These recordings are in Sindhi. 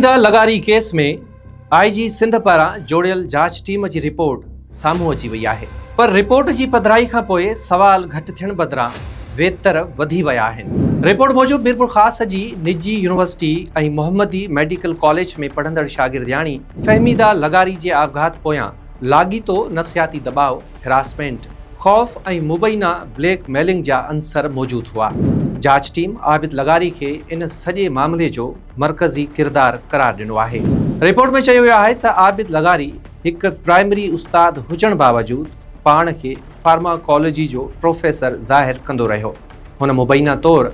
سيده لغاري ڪيس ۾ آء جي سنڌ پاران جوڙيل جاچ ٽيم جي رپورٽ سامهون اچي وئي آهي پر رپورٽ جي پڌرائي کان پوء سوال گهٽ ٿيڻ بدران ويتر وڌي ويا آهن. رپورٽ موجب ميرپورخاص جي نجي يونيورسٽي ۽ محمدي ميڊيڪل ڪاليج ۾ پڙهندڙ شاگردياڻي فهميده لغاري جي آپگهات پويان لاڳيتو نفسياتي دٻاء، هراسمينٽ، خوف ۽ مبينا بليڪ ميلنگ جا عنصر موجود هئا. جاچ ٽيم عابد لغاري کي ان سڄي معاملي جو مرڪزي ڪردار قرار ڏنو آهي. رپورٽ ۾ چيو ويو آهي ته عابد لغاري هڪ پرائمري استاد هجڻ باوجود پاڻ کي فارماڪالوجي جو پروفيسر ظاهر ڪندو رهيو. هن مبينا طور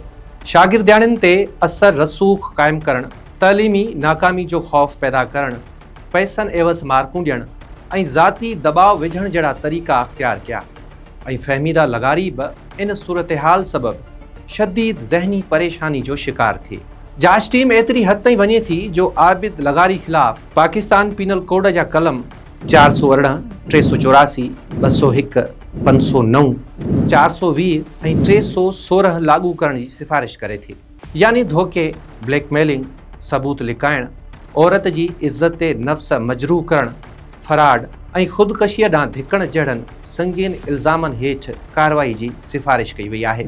شاگردياڻين تي اثر رسوخ قائم ڪرڻ، تعليمي ناڪامي جو خوف پيدا ڪرڻ پئسن عيوض مارڪون ڏيڻ ۽ ذاتي دٻاء وجهڻ جهڙا طريقا اختيار ڪيا ۽ فهميده لغاري به ان صورتحال سبب شديد ذهني پريشاني جو شڪار ٿئي. جاچ ٽيم ايتري حد تائين وڃي ٿي جو عابد لغاري خلاف پاڪستان پينل ڪوڊ جا قلم، چار سؤ ارڙهن، ٽي سؤ چوراسي، ٻه سؤ هڪ، پنج سؤ نو، چار سؤ ويهه ۽ ٽي سؤ سورهن لاڳو ڪرڻ جي سفارش ڪري ٿي. يعني ڌوڪي، بليڪ ميلنگ، ثبوت لڪائڻ، عورت جي عزت نفس مجروح ڪرڻ، فراڊ ۽ خودڪشيء ڏانهن ڌڪڻ جهڙن سنگين الزامن هيٺ ڪارروائي جي سفارش ڪئي وئي آهي.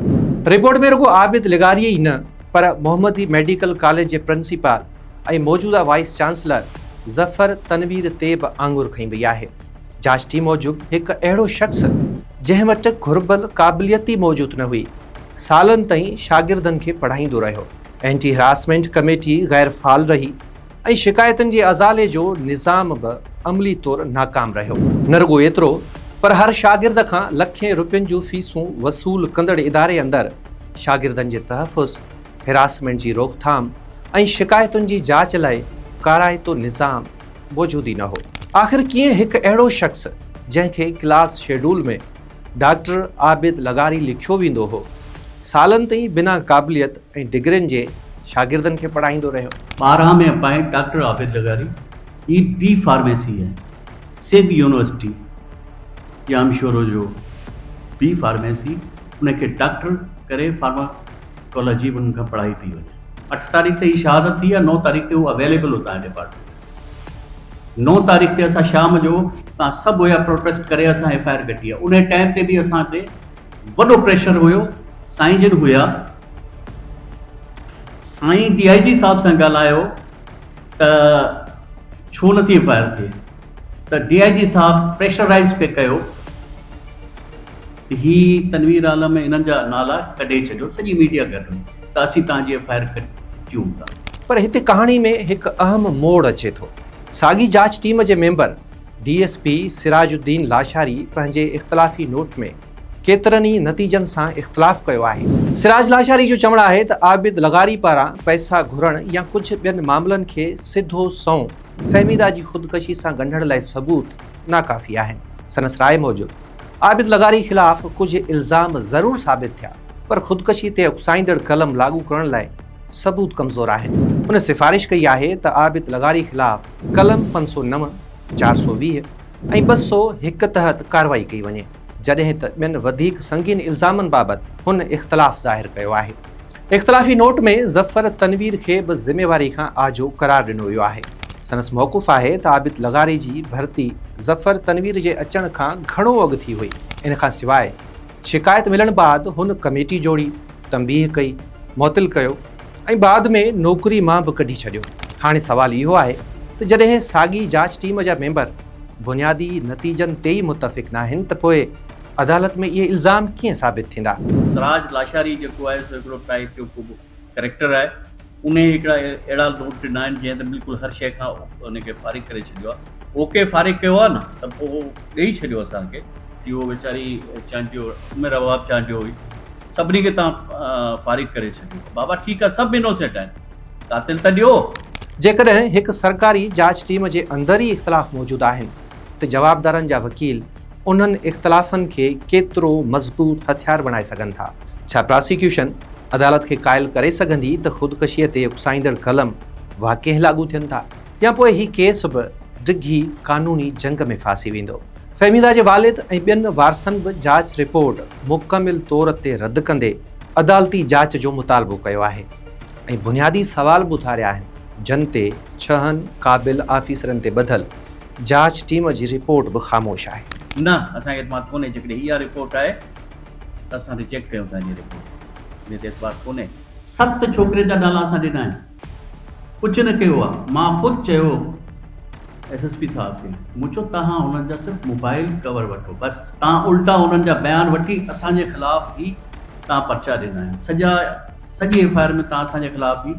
رپورٽ ۾ رڳو عابد لغاري ئي نه پر محمدي ميڊيڪل ڪاليج جي پرنسپال ۽ موجوده وائيس چانسلر ظفر تنوير تي به آڱر کنئي وئي آهي. جاچ ٽيم موجب هڪ اهڙو شخص جنهن وٽ گهربل قابليت ئي موجود نه هئي، سالن تائين شاگردن کي پڙهائيندو رهيو. اينٽي هراسمينٽ ڪميٽي غير فعال رهي ۽ شڪايتن جي ازالي جو نظام به عملي طور ناڪام رهيو. نه رڳو ايترو پر هر شاگرد کان لکين روپين جون فيسون وصول ڪندڙ اداري اندر شاگردن جي تحفظ، هراسمينٽ جي روڪٿام ۽ شڪايتن جي جاچ لاء ڪارائتو نظام موجود ئي نه هو. آخر ڪيئن هڪ اهڙو شخص جنهن کي ڪلاس شيڊول ۾ ڊاڪٽر عابد لغاري لکيو ويندو هو. سالن تائين بنا قابليت ۽ ڊگرين جي شاگردن کي پڙهائيندو رهيو. ٻارهن ۾ اپائنٽ ڊاڪٽر عابد لغاري A B pharmacy ۽ Sindh university Jamshoro جو بي فارميسي انهن کي ڊاڪٽر ڪري فارماڪالاجي انهن کان پڙهائي پئي وڃي. اٺ تاريخ تي هي شهادت ٿي ۽ نو تاريخ تي هو اويليبل هو تنهن ڊپارٽمينٽ ۾. نو تاريخ تي اسان شام جو تان سڀ هيا پروٽيسٽ ڪري اسان ايف آء آر ڪٽي ان ٽائيم تي به اسان تي وڏو پريشر هيو سائين جن هيا سائين ڊي آء جي صاحب سان ڳالهايو ته ڇو نٿي ايف آء آر ٿئي ته ڊي آء جي صاحب پريشرائز پي ڪيو هي تنوير عالم ۽ انهن جا نالا ڪڍي ڇڏيو سڄي ميڊيا گڏ هئي ته اسين توهان جي ايف آء آر ڪٽيون ٿا. پر هتي ڪهاڻي ۾ هڪ اهم موڙ اچي ٿو. ساڳي جاچ ٽيم جي member D S P Siraj Uddin Lashari پنهنجي اختلافي نوٽ ۾ ڪيترن ئي نتيجن سان اختلاف ڪيو آهي. سراج لاشاري جو چوڻ آهي ته عابد لغاري پاران پئسا گهرڻ يا ڪجهه ٻين معاملن کي سڌو سنئون فهميده جي خودڪشي سان ڳنڍڻ لاء ثبوت ناڪافي آهن. سندس راء موجب. عابد لغاري خلاف ڪجهه الزام ضرور ثابت ٿيا پر خودڪشي تي اڪسائيندڙ قلم لاڳو ڪرڻ لاء ثبوت ڪمزور آهن. هن سفارش ڪئي آهي ته عابد لغاري خلاف قلم پنج سؤ نو، چار سؤ ويهه ۽ ٻه سؤ هڪ تحت ڪارروائي ڪئي وڃي، جڏهن ته ٻين وڌيڪ سنگين الزامن بابت هن اختلاف ظاهر ڪيو آهي. اختلافي نوٽ ۾ ظفر تنوير کي به ذميواري کان آجو قرار ڏنو ويو آهي. سندس موقف آهي ته عابد لغاري جي ڀرتي ظفر تنوير جي اچڻ کان گهڻو اڳ ٿي هئي. ان کان سواء شڪايت ملڻ بعد هن ڪميٽي جوڙي، تنبيهه ڪئي، معطل ڪيو ۽ بعد ۾ نوڪري مان به ڪڍي ڇڏيو. هاڻي سوال اهو آهي ته جڏهن ساڳي جاچ ٽيم جا ميمبر بنيادي نتيجن تي ئي متفق ناهن ته پوء عدالت ۾ اهي الزام ڪيئن ثابت ٿيندا؟ سراج لاشاري جيڪو آهي سو هڪڙو ٽائيپ جو ڪو به ڪريڪٽر آهي انهي هڪڙا اهڙا نوٽ ڏنا آهن جنهن ته بلڪل هر شئي کان ان کي فارغ ڪري ڇڏيو آهي او ڪي فارغ ڪيو آهي نه ته پو ڏئي ڇڏيو اسان کي جي هو ويچاري چانڊيو عمر اوهاب چانڊيو هئي سڀني کي توهان فارغ ڪري ڇڏيو بابا ٺيڪ آهي سڀ انوسينٽ آهن قاتل ته ڏيو. جيڪڏهن هڪ سرڪاري جاچ ٽيم جي اندر ئي اختلاف موجود آهن ته جوابدارن جا وڪيل انهن اختلافن کي ڪيترو مضبوط هٿيار بڻائي سگهن ٿا؟ ڇا پراسيڪيوشن عدالت کي قائل ڪري سگهندي ته خودڪشيء تي اڪسائيندڙ قلم واقعي لاڳو ٿين ٿا يا پوء هي ڪيس به ڊگهي قانوني جنگ ۾ ڦاسي ويندو؟ فهميده جي والد ۽ ٻين وارثن به جاچ رپورٽ مڪمل طور تي رد ڪندي عدالتي جاچ جو مطالبو ڪيو آهي ۽ بنيادي سوال به اٿاريا آهن، جن تي ڇهن قابل آفيسرن تي ٻڌل جاچ ٽيم جي رپورٽ به خاموش آهي. نه اسان کي اعتماد ڪونهي جيڪڏهن اها رپورٽ آهي ته اسان ريجيڪٽ ڪيون ٿا انهي رپورٽ کي انهي تي اعتبار ڪونهي. ست ڇوڪرين جا نالا اسان ڏنا آهن ڪجهه نه ڪيو آهي مان خود چيو ايس ايس پي صاحب کي مون چيو توهان انهن جا صرف موبائل ڪور وٺو بس تان الٽا انهن جا بيان وٺي اسان جي خلاف ئي تان پرچا ڏنا آهن سڄا سڄي ايف آء آر ۾ تان اسان جي خلاف ئي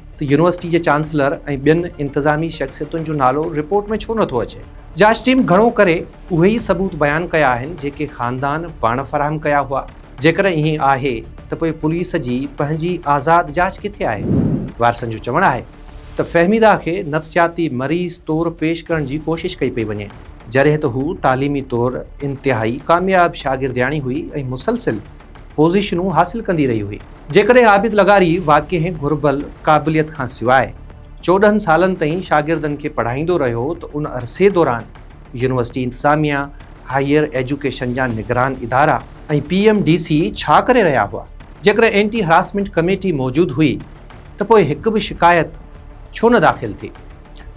ته يونيورسٽي جي چانسلر ۽ ٻين انتظامي شخصيتن جو نالو رپورٽ ۾ ڇو نٿو اچي؟ جاچ ٽيم گهڻو ڪري اهي ئي ثبوت بيان ڪيا آهن جيڪي خاندان پاڻ فراهم ڪيا هئا، جيڪڏهن ائين آهي ته پوء پوليس جي پنهنجي آزاد جاچ ڪٿي آهي؟ وارثن جو چوڻ آهي ته فهميده کي نفسياتي مريض طور پيش ڪرڻ جي ڪوشش ڪئي پئي وڃي، جڏهن ته هو تعليمي طور انتهائي ڪامياب شاگردياڻي هئي ۽ مسلسل پوزيشنون حاصل ڪندي رهي هئي. جيڪڏهن عابد لغاري واڪنهن گهربل قابليت کان سواء چوڏهن سالن تائين شاگردن کي پڙهائيندو رهيو ته ان عرصي دوران يونيورسٽي انتظاميه، هائير ايجوڪيشن جا نگران ادارا ۽ پي ايم ڊي سي ڇا ڪري رهيا هئا؟ جيڪڏهن اينٽي هراسمينٽ ڪميٽي موجود هئي ته پوء هڪ به شڪايت ڇو نه داخل ٿي؟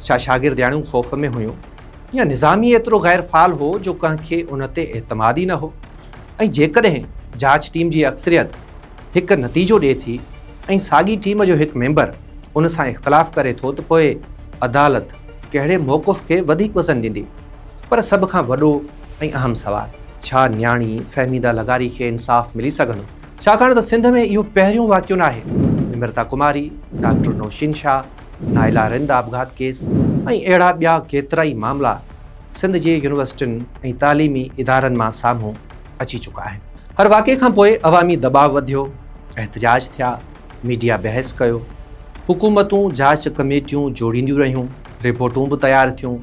ڇا شاگردياڻيون خوف ۾ هيون يا نظام ئي ايترو غير فعال هو جو ڪنهن کي ان تي اعتماد ئي نه هو؟ ۽ جيڪڏهن جاچ ٽيم جي اڪثريت هڪ نتيجو ڏئي ٿي ۽ ساڳي ٽيم جو هڪ ميمبر ان سان اختلاف ڪري ٿو ته پوء عدالت ڪهڙي موقف کي وڌيڪ وزن ڏيندي؟ پر سڀ کان وڏو ۽ اهم سوال. ڇا نياڻي فهميده لغاري کي انصاف ملي سگهندو؟ ڇاڪاڻ ته سنڌ ۾ اهو پهريون واقعو ناهي. نمرتا ڪماري، ڊاڪٽر نوشين شاهه، نائلا رند آپگهات ڪيس ۽ اهڙا ٻيا ڪيترائي معاملا سنڌ جي يونيورسٽين ۽ تعليمي ادارن مان سامهون اچي چڪا آهن. هر واقعي کان پوء عوامي دٻاء وڌيو، احتجاج ٿيا، ميڊيا بحث ڪيو، حڪومتون جاچ ڪميٽيون جوڙينديون رهيون، رپورٽون به تيار ٿيون،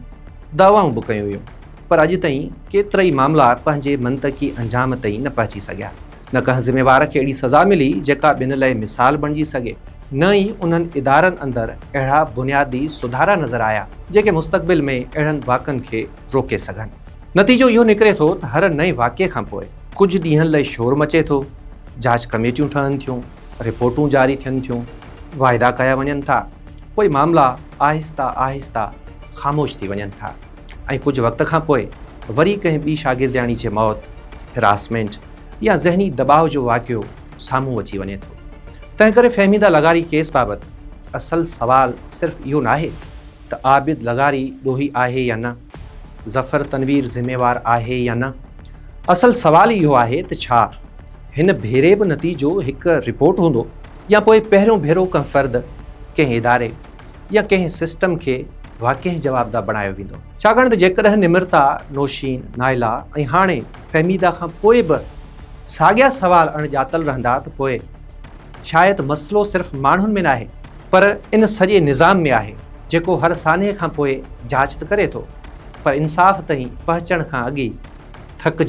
دعوائون به ڪيون ويون، پر اڄ تائين ڪيترائي معاملا پنهنجي منطقي انجام تائين نه پهچي سگهيا. نه ڪنهن ذميوار کي اهڙي سزا ملي جيڪا ٻين لئه مثال بڻجي سگهي. نه ئي انهن ادارن اندر اهڙا بنيادي سڌارا نظر آيا جيڪي مستقبل ۾ اهڙن واقعن کي روڪي سگهن. نتيجو اهو نڪري ٿو ته هر نئين واقعي کان پوء ڪجهه ڏينهن لئه شور مچي ٿو، جاچ ڪميٽيون ٺهن ٿيون، رپورٽون جاري ٿين ٿيون، واعدا ڪيا وڃن ٿا، پوء معاملا آهستي آهستي خاموش ٿي وڃن ٿا ۽ ڪجهه وقت کان پوء وري ڪنهن ٻي شاگردياڻي جي موت، Harassment، يا ذهني دٻاء جو واقعو سامهون اچي وڃي ٿو. تنهنڪري فهميده لغاري ڪيس بابت اصل سوال صرف اهو ناهي ته عابد لغاري ڏوهي آهي يا نه، ظفر تنوير ذميوار آهي يا نه، اصل سوال اهو آهي ته ڇا هن ڀيري به نتيجو هڪ رپورٽ هوندو يا پوء پهريون ڀيرو ڪنهن فرد، ڪنهن اداري يا ڪنهن سسٽم کي واقعي جوابده بڻايو ويندو. ڇاڪاڻ ته جيڪڏهن نمرتا، نوشين، نائلا ۽ هاڻي فهميده کان پوء به ساڳيا سوال اڻ ڄاتل رهندا ته پوء شايد مسئلو صرف ماڻهن ۾ ناهي، پر ان سڄي نظام ۾ آهي جيڪو هر سانحي کان پوء جاچ ته ڪري ٿو پر انصاف تائين پهچڻ کان اڳ ئي ٿڪجي